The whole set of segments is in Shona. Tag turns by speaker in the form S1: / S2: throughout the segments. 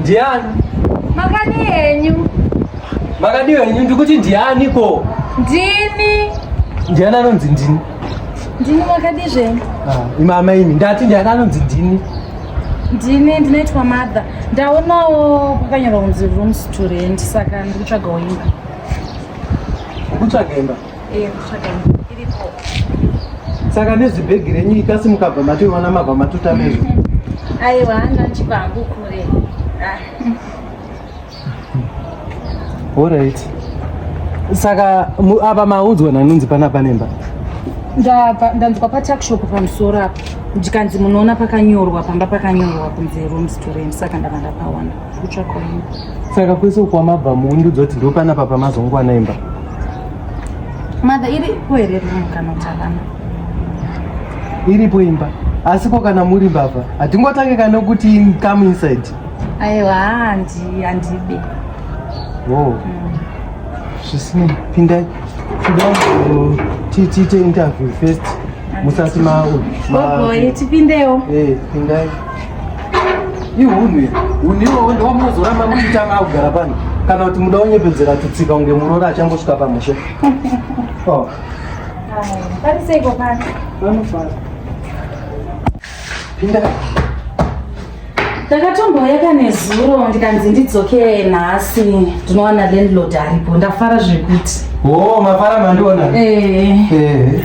S1: Ndiani? Makadi yenyu. Makadi yenyu ndikuti ndiani ko? Ndini. Ndiani anonzi ndini? Ndini makadi zvenyu. Ah, imama imi ndati ndiani anonzi ndini? ndini ndinoitwa mother ndaonawo kwakanyorwa kunzi rooms to rent saka ndikutsvaga imba kutsvaga imba saka nezibhegi renyu ikasi mukabva mationa mabva matuta nezvo aiwa hana chipangu kure ah. orit saka apa maunzwa nanunzi pana panemba ndabva ndanzwa patakshop pamusoro apa ndikanzi munoona pakanyorwa pamba pakanyorwa kunzi room storem saka ndava ndapaona saka kwese uko wamabva muundudzo kuti ndo panapa pamazongwana imba mother iri kuherera mukana kuti havana iripo imba asiko kana muri mbavha hatingotange kana kuti come inside aiwa handi handibe wo oh. mm. zvisinei pindai tida tiite interview first musati maogogoye tipindewo eh, pindai ihunhu iri hunhu iwowo ndowamunozoramba muchiita maakugara pano kana kuti muda unyepedzera tutsika kunge muroora achangosvika pamusha oh. pariseiko pano vanofara pinda ndakatombouya kane zuro ndikanzi ndidzokee nhasi ndinowana landlord aripo ndafara zvekuti o oh, mafara mandiona eh. Eh.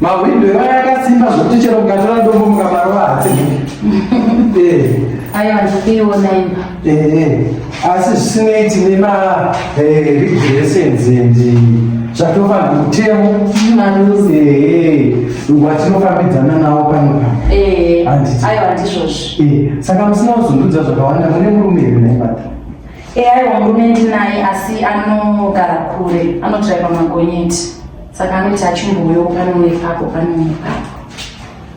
S1: Mahwindo evana akasimba zvokuti chero mukatora ndombo mukamarova hatsiki. Eh. Ayo handipiona imba. Eh, eh. Asi zvisinei tine ma regulations and zvatofanira mutemo. Maruzi. Eh. Watinofambidzana nawo pano pano. Eh. Ayo handizvozvo. Eh. Saka musina kuzundudza zvakawanda mune murume here naye mata? Eh, ayo murume ndinaye asi anogara kure. Anotsvaka magonyeti. saka anoti achimbouyo pano nepapo pano nepapo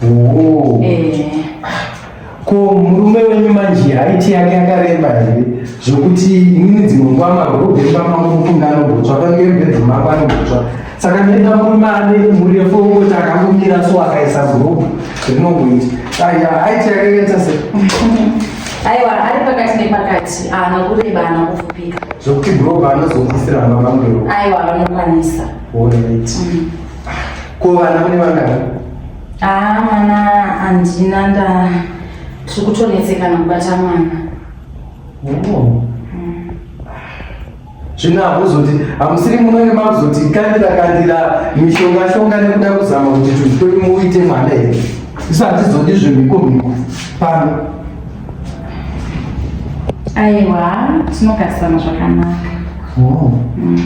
S1: oh. eh. ko murume wenyu manje haiti yake akareba here zvokuti inini dzimwe nguva magobemba mamukunga anogotswa kangebedhu mako anogotswa saka nenda murume ane murefu wekuti akangomira so akaisa gurupu rinongoita aya aiti yake yeta se aiwa ari pakati nepakati ana kureba ana kufupika zvokuti groba anozobvisira mba mangero aiwa vanokwanisa orit mm. ko vana mune vangani aa ah, mwana handina nda tiri kutonetsekana kubata mwana oh. zvino hakuzoti hamusiri munenge makuzoti kandira kandira mishonga shonga nekuda kuzama kuti tunhu twedu muite mwana here isu hatizodi zvemhiko mhiko pano aiwa tinogarisana zvakanaka oh. mm.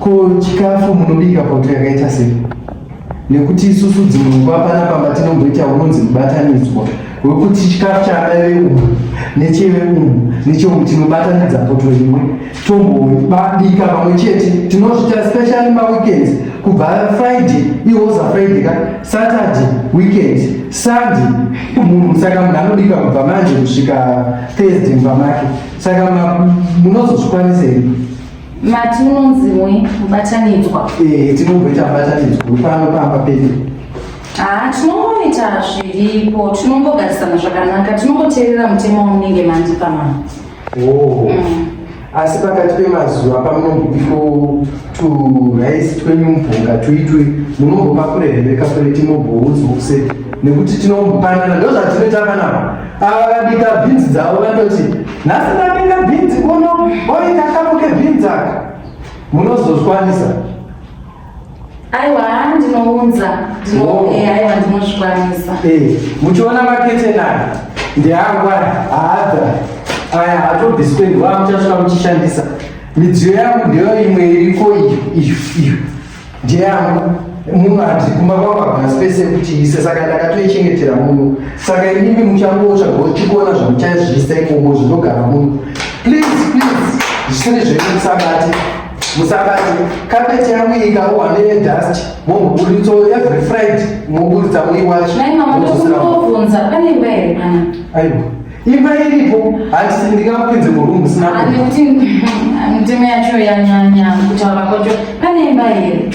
S1: ko chikafu munobika pauto yakaita sei nekuti isusu dzimwe nguva panapa matinongoita unonzi mubatanidzwa wekuti chikafu chaanaive umu necheve umu necheumwe tinobatanidza poto imwe tombobika pamwe chete tinozvita specially maweekends kubva friday iwoza friday ka saturday weekend sunday munhu saka munhu anobika kubva manje kusvika thursday mumba make saka munozozvikwanisa imi Mati unonziwe mubatanidzwa. Eh, tinomboita mubatanidzwa pano pamba pedu. Ah, tinongoita zviripo, tinongogarisana zvakanaka, tinongoteerera mutemo wamunenge mandipa mama. Oh. Mm. Asi pakati pemazuva pamunombiko turaisi twenyu mubvunga tuitwe munombopa kure here kakureti momboudzwa kuseri nekuti tinombopanana ndozvatinoita panapa Ava vabika bhinzi dzavo vanoti nhasi ndabika bhinzi kuno oita kamo kebhinzi aka munozozvikwanisa aiwa ndinounza aiwa ndinozvikwanisa eh, muchiona maketeni aya ndeangu aya haadha aya hatobviswe ndiwa muchasvika muchishandisa midziyo yangu ndeyo imwe iriko iyo iyo Ndiyangu munhu ati kumba kwangu hakuna space yekuti ise saka ndakatoichengetera muno saka inimi muchangotsva gochikuona zvamuchaizviisa ikomo zvinogara muno please please zvisiri zvenyu musabati musabati kapeti yangu ikaohwa nedust momburitso every friday moburitsa muiwachi nai mama ndokumbobvunza pane imba here mwana aiwa imba iripo hanti ndingakupinze murumbu sinakuti mitemo yacho yanyanya kutaura kwacho pane imba here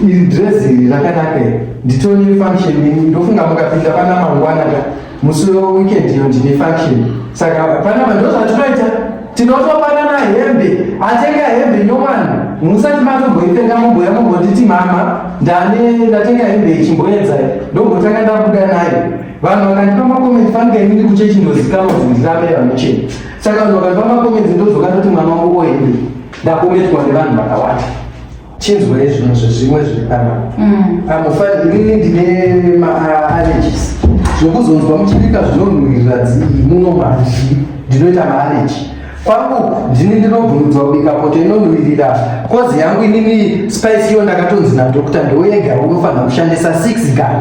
S1: iri dress iri rakanaka iri nditone function ini ndofunga mukapinda pana mangwana ka musi weweekend iyo ndine function saka pana vanhu ndozvatinoita tinotopanana hembe atenga hembe nyowani musati matomboitenga mumboya mumbonditi mama ndane ndatenga hembe ichimboedzai ndombotanga ndabuda nayo vanhu vakandipa makomenti fanike inini kuchechi ndozikanwa kuti ndiramira mucheni saka vanhu vakandipa makomenti ndozoka ndoti mwana wangu oende ndakometwa nevanhu vakawanda chinzwa izvino zvezvimwe zviri pana mm. amufani inini ndine maallergies zvokuzonzwa muchibika zvinonhuwirira dzii muno mazhi ndinoita maallergy kwangu ndini ndinobvumidzwa kubika poto inonhuwirira kozi yangu inini spice iyo ndakatonzi nadokta ndoyega unofanira kushandisa six gun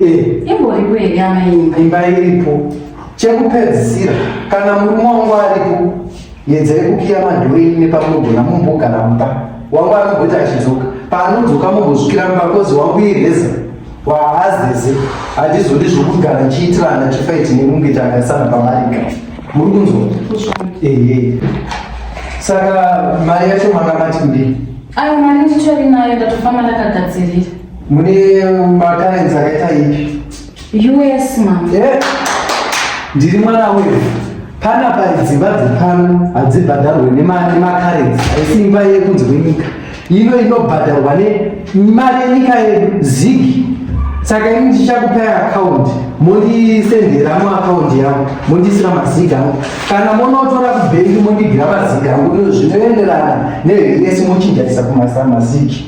S1: Eh. imboripo here yama imba imba iripo chekupedzisira kana murume wangu aripo yedzai kukiya madhuri imi nepamugona mumbogara mumba wangu anogoti achidzoka paanodzoka mumbozvikira mumba kozi wangu ireza waazeze handizodi zvokugara chiitirana chifaiti nekunge takasana pamarika muri kunzwa ehe saka mari yacho manga mati kudii ayo mari nditori nayo ndatofamba ndakagadzirira Mune matalents akaita ipi? US mama. Yeah. Ndiri mwana wewe. Pana pari dzimba dzepano hadzibhadharwe nemakarenzi asi imba yekunze kwenyika ino inobhadharwa nemari yenyika yedu zigi saka ini ndichakupai akaundi mondisendera muakaundi yangu mondisira mazig angu kana monotora kubhengi mondigira mazig angu ino zvinoenderana neesi mochinjaisa kumasamazigi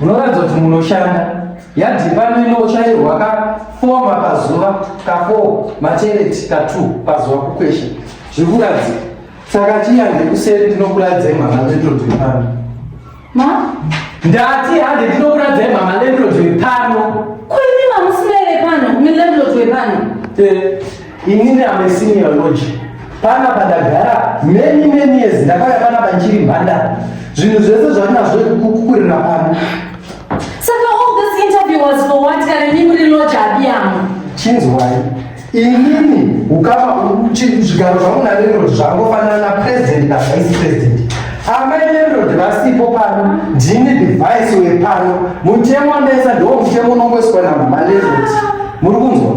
S1: munoratidza kuti munoshanda yadhi pano inochairwa ka four mapazuva ka four machereti ka two pazuva kukwesha zvikuratidza saka chiya ndekuseri ndinokuratidza imhama landlord wepano ndati hande ndinokuratidza imhama landlord wepano kuri mamusina ere pano mulandlord wepano eh. Inini am a senior lodge pana padagara many many years ndakauya pana panchiri mhandara zvinhu zvese zvatinazvo kukurira pano saka all this interview was for what kana nyinyi muri lodge abiyamo chinzwai inini ukama zvigaro zvangu nalerod zvangofanana na president na vice president amai lerod vasipo pano ndini device wepano mutemo wamesa ndo mutemo unongoiswa namama lerod muri kunzwa